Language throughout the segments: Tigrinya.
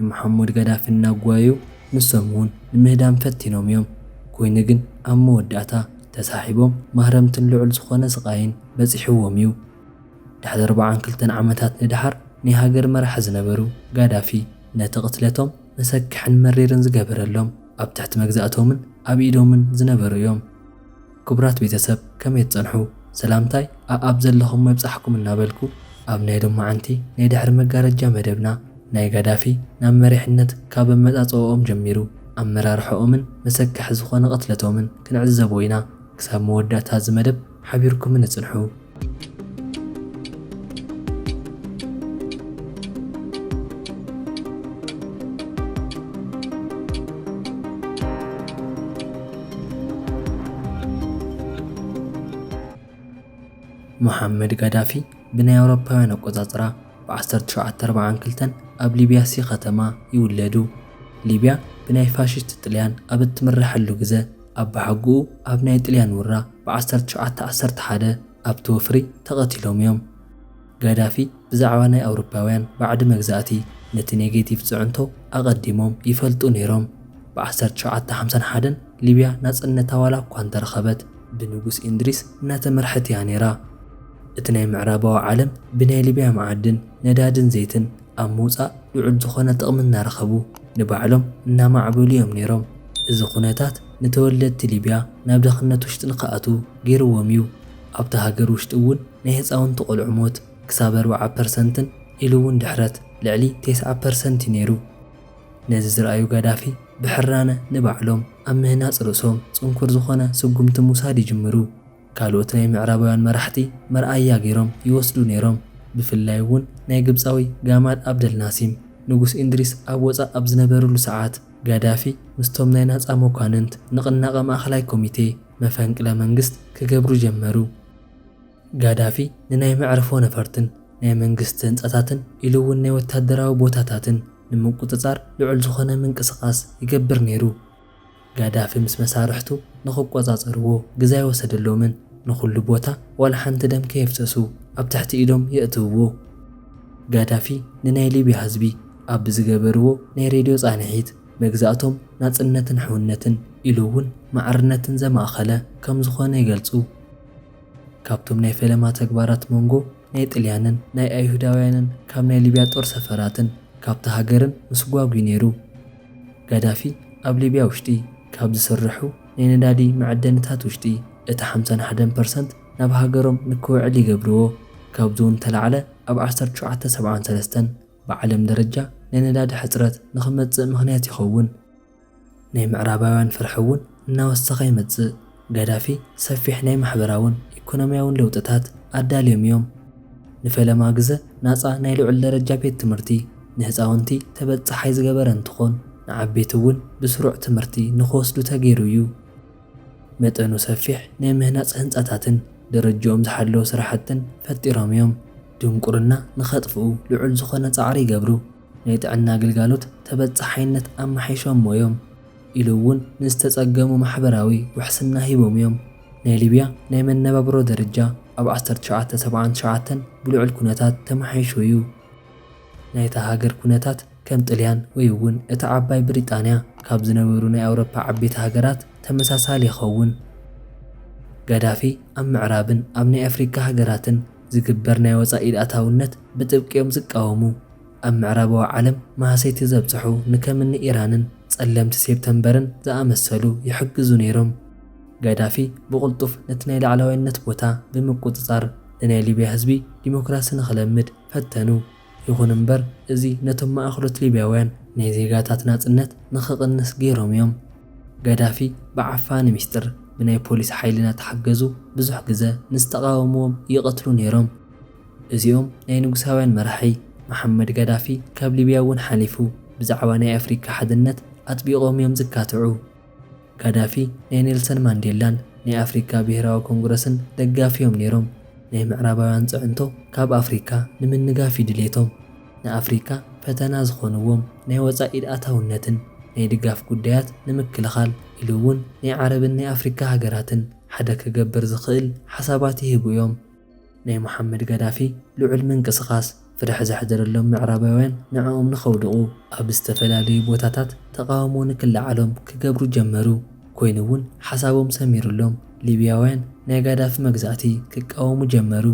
ንመሓሙድ ጋዳፊ እናጓየዩ ንሶም እውን ንምህዳም ፈቲኖም እዮም። ኮይኑ ግን ኣብ መወዳእታ ተሳሒቦም ማህረምትን ልዑል ዝኾነ ስቓይን በጺሕዎም እዩ። ድሕሪ ኣርብዓን ክልተን ዓመታት ንደሓር ናይ ሃገር መራሒ ዝነበሩ ጋዳፊ ነቲ ቅትለቶም መሰክሕን መሪርን ዝገበረሎም ኣብ ትሕቲ መግዛእቶምን ኣብ ኢዶምን ዝነበሩ እዮም። ክቡራት ቤተሰብ ከመይ ትጸንሑ ሰላምታይ ኣኣብ ዘለኹሞ ይብጻሕኩም እናበልኩ ኣብ ናይ ሎማዓንቲ ናይ ድሕሪ መጋረጃ መደብና ናይ ጋዳፊ ናብ መሪሕነት ካብ ኣመጻጽኦኦም ጀሚሩ ኣመራርሖኦምን መሰከሒ ዝኾነ ቅትለቶምን ክንዕዘቦ ኢና ክሳብ መወዳእታ እዚ መደብ ሓቢርኩምኒ ጽንሑ ሞሓመድ ጋዳፊ ብናይ ኣውሮፓውያን ኣቆጻጽራ ብ1942 ኣብ ሊብያ ሲ ከተማ ይውለዱ። ሊብያ ብናይ ፋሺስት ጥልያን ኣብ እትምረሐሉ ግዘ፣ ኣባሓጉኡ ኣብ ናይ ጥልያን ውራ ብዓሰርተ ትሽዓተ ዓሰርተ ሓደ ኣብቲ ወፍሪ ተቐቲሎም እዮም። ጋዳፊ ብዛዕባ ናይ ኣውሮፓውያን ባዕዲ መግዛእቲ ነቲ ኔጌቲቭ ፅዕንቶ ኣቐዲሞም ይፈልጡ ነይሮም። ብዓሰርተ ትሽዓተ ሓምሳን ሓደን ሊብያ ናፅነታ ዋላ እኳ እንተረኸበት፣ ብንጉስ ኢንድሪስ እናተመርሐት እያ ነይራ። እቲ ናይ ምዕራባዊ ዓለም ብናይ ሊብያ መዓድን፣ ነዳድን ዘይትን ኣብ ምውጻእ ልዑል ዝኾነ ጥቕሚ እናረኸቡ ንባዕሎም እናማዕበሉ እዮም ነይሮም። እዚ ኩነታት ንተወለድቲ ሊብያ ናብ ድኽነት ውሽጢ ንክኣትዉ ገይርዎም እዩ። ኣብታ ሃገር ውሽጢ እውን ናይ ህፃውንቲ ቆልዑ ሞት ክሳብ ኣርብዓ ፐርሰንትን ኢሉ እውን ድሕረት ልዕሊ ቴስዓ ፐርሰንት እዩ ነይሩ። ነዚ ዝረኣዩ ጋዳፊ ብሕራነ ንባዕሎም ኣብ ምህናፅ ርእሶም ፅንኩር ዝኾነ ስጉምቲ ምውሳድ ይጅምሩ። ካልኦት ናይ ምዕራባውያን መራሕቲ መርኣያ ገይሮም ይወስዱ ነይሮም፣ ብፍላይ እውን ናይ ግብጻዊ ጋማል ኣብደል ናሲም። ንጉስ ኢንድሪስ ኣብ ወጻእ ኣብ ዝነበርሉ ሰዓት፣ ጋዳፊ ምስቶም ናይ ናጻ መኳንንት፣ ንቕናቐ ማእከላይ ኮሚቴ፣ መፈንቅለ መንግስት ክገብሩ ጀመሩ። ጋዳፊ ንናይ መዕርፎ ነፈርትን ናይ መንግስቲ ህንጻታትን ኢሉ እውን ናይ ወታደራዊ ቦታታትን ንምቁጽጻር ልዑል ዝኾነ ምንቅስቓስ ይገብር ነይሩ። ጋዳፊ ምስ መሳርሕቱ ንኽቆጻጸርዎ ግዘ ኣይወሰደሎምን፣ ንኹሉ ቦታ ዋላ ሓንቲ ደም ከየፍሰሱ ኣብ ትሕቲ ኢዶም የእትውዎ። ጋዳፊ ንናይ ሊብያ ህዝቢ ኣብ ብዝገበርዎ ናይ ሬድዮ ጻንሒት፣ መግዛእቶም ናጽነትን ሕውነትን ኢሉ እውን ማዕርነትን ዘማእኸለ ከም ዝኾነ ይገልጹ። ካብቶም ናይ ፈለማ ተግባራት መንጎ ናይ ጥልያንን ናይ ኣይሁዳውያንን ካብ ናይ ሊብያ ጦር ሰፈራትን ካብታ ሃገርን ምስጓግ እዩ ነይሩ። ጋዳፊ ኣብ ሊብያ ውሽጢ ካብ ዝስርሑ ናይ ነዳዲ መዐደኒታት ውሽጢ እቲ ሓምሳን ሓደን ፐርሰንት ናብ ሃገሮም ንክውዕል ይገብርዎ። ካብዚውን ዝተላዕለ ኣብ ዓሰርተ ሸውዓተ ሰብዓን ሰለስተን ብዓለም ደረጃ ናይ ነዳዲ ሕፅረት ንክመፅእ ምክንያት ይኸውን። ናይ ምዕራባውያን ፍርሒ እውን እናወሰኸ ይመፅእ። ጋዳፊ ሰፊሕ ናይ ማሕበራውን ኢኮኖሚያውን ለውጥታት ኣዳልዮም እዮም። ንፈለማ ግዘ ናፃ ናይ ልዑል ደረጃ ቤት ትምህርቲ ንህፃውንቲ ተበፃሓይ ዝገበረ እንትኾን ንዓበይቲ እውን ብስሩዕ ትምህርቲ ንክወስዱ ተገይሩ እዩ። መጠኑ ሰፊሕ ናይ ምህናፅ ህንፃታትን ደረጅኦም ዝሓለወ ስራሕትን ፈጢሮም እዮም። ድንቁርና ንከጥፍኡ ልዑል ዝኾነ ፃዕሪ ይገብሩ። ናይ ጥዕና ግልጋሎት ተበፃሓይነት ኣማሓይሾሞ እዮም። ኢሉ እውን ንዝተፀገሙ ማሕበራዊ ውሕስና ሂቦም እዮም። ናይ ሊብያ ናይ መነባብሮ ደረጃ ኣብ ዓሰርተ ትሽዓተ ሰብዓን ትሽዓተን ብልዑል ኩነታት ተመሓይሹ እዩ። ናይታ ሃገር ኩነታት ከም ጥልያን ወይ እውን እታ ዓባይ ብሪጣንያ ካብ ዝነበሩ ናይ ኣውሮፓ ዓበይቲ ሃገራት ተመሳሳሊ ይኸውን። ጋዳፊ ኣብ ምዕራብን ኣብ ናይ ኣፍሪካ ሃገራትን ዝግበር ናይ ወፃኢ ኢድ ኣታውነት ብጥብቂ እዮም ዝቃወሙ። ኣብ ምዕራባዊ ዓለም ማህሰይቲ ዘብጽሑ ንከምኒ ኢራንን ጸለምቲ ሴፕተምበርን ዝኣመሰሉ ይሕግዙ ነይሮም። ጋዳፊ ብቕልጡፍ ነቲ ናይ ላዕላዋይነት ቦታ ብምቁጽጻር ንናይ ሊብያ ህዝቢ ዲሞክራሲ ንኽለምድ ፈተኑ። ይኹን እምበር እዚ ነቶም ማእከሎት ሊብያውያን ናይ ዜጋታት ናጽነት ንኽቕንስ ገይሮም እዮም። ጋዳፊ ብዓፋኒ ሚስጥር ብናይ ፖሊስ ሓይሊ እናተሓገዙ ብዙሕ ግዘ ንዝተቓወምዎም ይቐትሉ ነይሮም። እዚኦም ናይ ንጉሳውያን መራሒ መሓመድ ጋዳፊ ካብ ሊብያ እውን ሓሊፉ ብዛዕባ ናይ ኣፍሪካ ሓድነት ኣጥቢቖም እዮም ዝካትዑ። ጋዳፊ ናይ ኔልሰን ማንዴላን ናይ ኣፍሪካ ብሄራዊ ኮንግረስን ደጋፊ እዮም ነይሮም። ናይ ምዕራባውያን ፅዕንቶ ካብ ኣፍሪካ ንምንጋፍ እዩ ድሌቶም። ንኣፍሪካ ፈተና ዝኾንዎም ናይ ወፃእ ኢድ ኣታውነትን ናይ ድጋፍ ጉዳያት ንምክልኻል ኢሉ እውን ናይ ዓረብን ናይ ኣፍሪካ ሃገራትን ሓደ ክገብር ዝኽእል ሓሳባት ይህቡ እዮም። ናይ ሙሓመድ ጋዳፊ ልዑል ምንቅስቓስ፣ ፍርሒ ዘሕደረሎም ምዕራባውያን ንዕኦም ንኸውድቑ ኣብ ዝተፈላለዩ ቦታታት ተቓውሞ ንክለዓሎም ክገብሩ ጀመሩ። ኮይኑ እውን ሓሳቦም ሰሚሩሎም፣ ሊብያውያን ናይ ጋዳፊ መግዛእቲ ክቃወሙ ጀመሩ።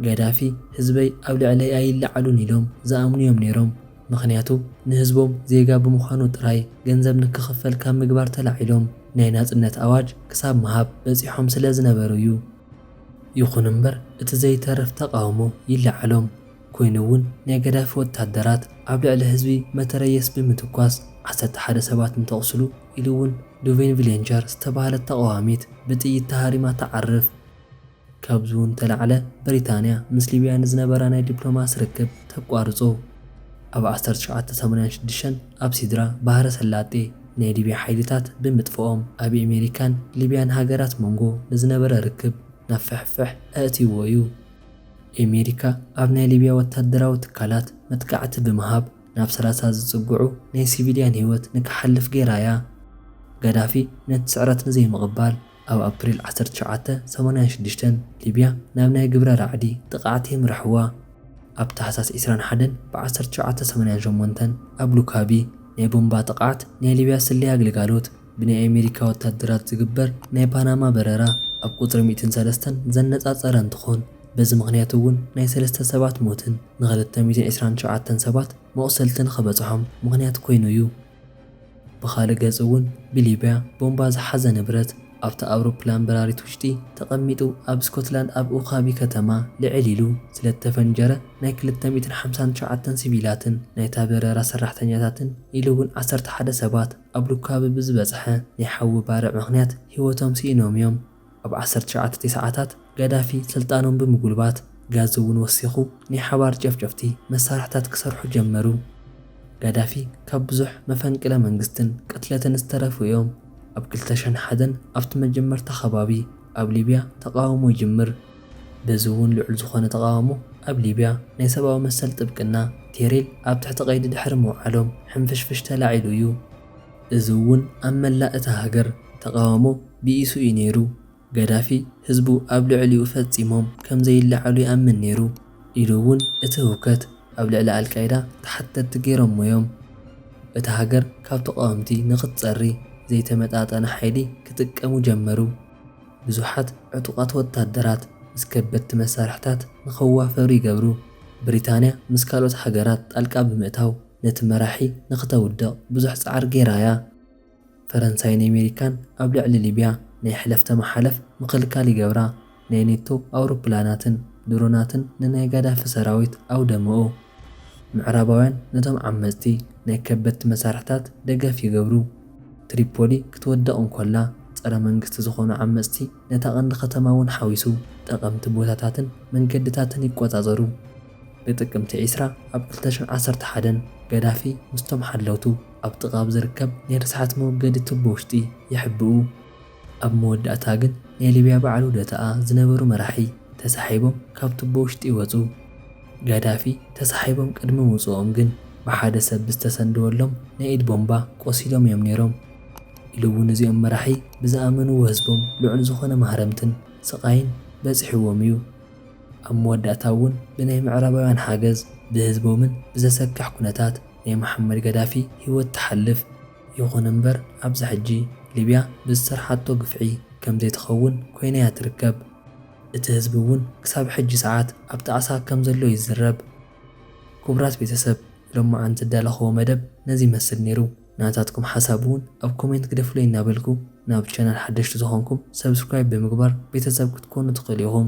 ጋዳፊ ህዝበይ ኣብ ልዕለይ ኣይለዓሉን ኢሎም ዝኣምኑ እዮም ነይሮም። ምኽንያቱ ንህዝቦም ዜጋ ብምዃኑ ጥራይ ገንዘብ ንክኽፈል ካብ ምግባር ተላዒሎም ናይ ናጽነት ኣዋጅ ክሳብ ምሃብ በጺሖም ስለዝነበሩ እዩ። ይኹን እምበር እቲ ዘይተርፍ ተቓውሞ ይለዓሎም ኮይኑ እውን ናይ ገዳፊ ወታደራት ኣብ ልዕሊ ህዝቢ መተረየስ ብምትኳስ ዓሰርተ ሓደ ሰባት እንተቑስሉ ኢሉ እውን ዱቬን ቪሌንቸር ዝተባህለት ተቓዋሚት ብጥይት ተሃሪማ ትዓርፍ። ካብዚ እውን ተላዕለ ብሪታንያ ምስ ሊብያ ንዝነበራ ናይ ዲፕሎማሲ ርክብ ተቋርጾ። ኣብ ዓሰርተ ትሽዓተ ሰማንያን ሽዱሽተን ኣብ ሲድራ ባህረ ሰላጤ ናይ ሊብያ ሓይልታት ብምጥፍኦም ኣብ ኤሜሪካን ሊብያን ሃገራት ሞንጎ ንዝነበረ ርክብ ናብ ፍሕፍሕ ኣእትይዎ እዩ። ኤሜሪካ ኣብ ናይ ሊብያ ወታደራዊ ትካላት መጥቃዕቲ ብምሃብ ናብ ሰላሳ ዝጽግዑ ናይ ሲቪልያን ህይወት ንክሓልፍ ገይራ እያ። ጋዳፊ ነቲ ስዕረት ንዘይምቕባል፣ ኣብ ኣፕሪል ዓሰርተ ትሽዓተ ሰማንያን ሽዱሽተን ሊብያ ናብ ናይ ግብረ ራዕዲ ጥቕዓት የምርሕዋ። ኣብ ታሕሳስ ዕስራን ሓደን ብ ዓሰርተ ትሽዓተ ሰማንያን ሸሞንተን ኣብ ሉካቢ ናይ ቦምባ ጥቕዓት ናይ ሊብያ ስለያ ግልጋሎት ብናይ ኣሜሪካ ወታደራት ዝግበር ናይ ፓናማ በረራ ኣብ ቁጽሪ ሚእትን ሰለስተን ዘነጻጸረ እንትኾን በዚ ምኽንያት እውን ናይ ሰለስተ ሰባት ሞትን ንክልተ ሚእትን ዕስራን ትሽዓተን ሰባት መቑሰልትን ንክበጽሖም ምኽንያት ኮይኑ እዩ። ብኻልእ ገፅ እውን ብሊብያ ቦምባ ዝሓዘ ንብረት ኣብታ ኣውሮፕላን በራሪት ውሽጢ ተቐሚጡ ኣብ ስኮትላንድ ኣብ ኡካቢ ከተማ ልዕል ኢሉ ስለዝተፈንጀረ ናይ ክልተ ሚእትን ሓምሳን ትሽዓተን ሲቪላትን ናይታ በረራ ሰራሕተኛታትን ኢሉ እውን ዓሰርተ ሓደ ሰባት ኣብ ሉካቢ ብዝበፅሐ ናይ ሓዊ ባርዕ ምኽንያት ህይወቶም ስኢኖም እዮም። ኣብ ዓሰርተ ትሽዓተ ቴስዓታት ጋዳፊ ስልጣኖም ብምጉልባት ጋዚ እውን ወሲኹ ናይ ሓባር ጨፍጨፍቲ መሳርሕታት ክሰርሑ ጀመሩ። ጋዳፊ ካብ ብዙሕ መፈንቅለ መንግስትን ቅትለትን ዝተረፉ እዮም። ኣብ ክልተ ሽሕን ሓደን ኣብቲ መጀመርታ ከባቢ ኣብ ሊብያ ተቓውሞ ይጅምር። በዚ እውን ልዑል ዝኾነ ተቓውሞ ኣብ ሊብያ ናይ ሰብኣዊ መሰል ጥብቅና ቴሬል ኣብ ትሕቲ ቀይዲ ድሕሪ ምውዓሎም ሕንፍሽፍሽ ተላዒሉ እዩ። እዚ እውን ኣብ መላእ እታ ሃገር ተቓውሞ ብኢሱ እዩ ነይሩ። ገዳፊ ህዝቡ ኣብ ልዕሊኡ ፈጺሞም ከም ዘይለዓሉ ይኣምን ነይሩ፣ ኢሉ እውን እቲ ህውከት ኣብ ልዕሊ ኣልቃይዳ ተሓተትቲ ገይሮሞ እዮም። እታ ሃገር ካብ ተቓወምቲ ንኽትጸሪ ዘይተመጣጠነ ሓይሊ ክጥቀሙ ጀመሩ፣ ብዙሓት ዕጡቓት ወታደራት ምስ ከበድቲ መሳርሕታት ንኸዋፈሩ ይገብሩ፣ ብሪታንያ ምስ ካልኦት ሃገራት ጣልቃ ብምእታው። ነቲ መራሒ ንክተውድቕ ብዙሕ ጻዕሪ ጌራ እያ። ፈረንሳይን ኤሜሪካን ኣብ ልዕሊ ሊብያ ናይ ሕለፍተ መሓለፍ ምክልካል ይገብራ፣ ናይ ኔቶ ኣውሮፕላናትን ድሮናትን ንናይ ጋዳፊ ሰራዊት ኣውደመኡ። ምዕራባውያን ነቶም ዓመጽቲ ናይ ከበድቲ መሳርሕታት ደገፍ ይገብሩ። ትሪፖሊ ክትወድቕ እንኮላ ጸረ መንግስቲ ዝኾኑ ዓመጽቲ ነታ ቀንዲ ከተማ እውን ሓዊሱ ጠቐምቲ ቦታታትን መንገድታትን ይቆጻጸሩ። ብጥቅምቲ ዕስራ ኣብ ክልተ ሽሕ ዓሰርተ ሓደ፣ ገዳፊ ምስቶም ሓለውቱ ኣብ ጥቓ ኣብ ዝርከብ ናይ ርስሓት መወገዲ ቱቦ ውሽጢ ይሕብኡ። ኣብ መወዳእታ ግን ናይ ሊብያ በዓል ውደታኣ ዝነበሩ መራሒ ተሳሒቦም ካብ ቱቦ ውሽጢ ይወጹ። ገዳፊ ተሳሒቦም ቅድሚ ምውጽኦም ግን ብሓደ ሰብ ብዝተሰንደወሎም ናይ ኢድ ቦምባ ቆሲሎም እዮም ነይሮም። ኢሉ እውን እዚኦም መራሒ ብዝኣመንዎ ህዝቦም ልዑል ዝኾነ ማህረምትን ስቓይን በፂሕዎም እዩ። ኣብ መወዳእታ እውን ብናይ ምዕራባውያን ሓገዝ ብህዝቦምን ብዘሰክሕ ኩነታት ናይ መሓመድ ጋዳፊ ህይወት ትሓልፍ። ይኹን እምበር ኣብዚ ሕጂ ሊብያ ብዝሰርሓቶ ግፍዒ ከምዘይትኸውን ኮይና እያ ትርከብ። እቲ ህዝቢ እውን ክሳብ ሕጂ ሰዓት ኣብ ጣዕሳ ከምዘሎ ይዝረብ። ክቡራት ቤተሰብ ሎማዓንቲ ዝዳለኹዎ መደብ ነዚ ይመስል ነይሩ። ናታትኩም ሓሳብ ውን ኣብ ኮሜንት ግደፉለይ እናበልኩ ናብ ቻናል ሓደሽቲ ዝኾንኩም ሰብስክራይብ ብምግባር ቤተሰብ ክትኮኑ ትኽእሉ ኢኹም።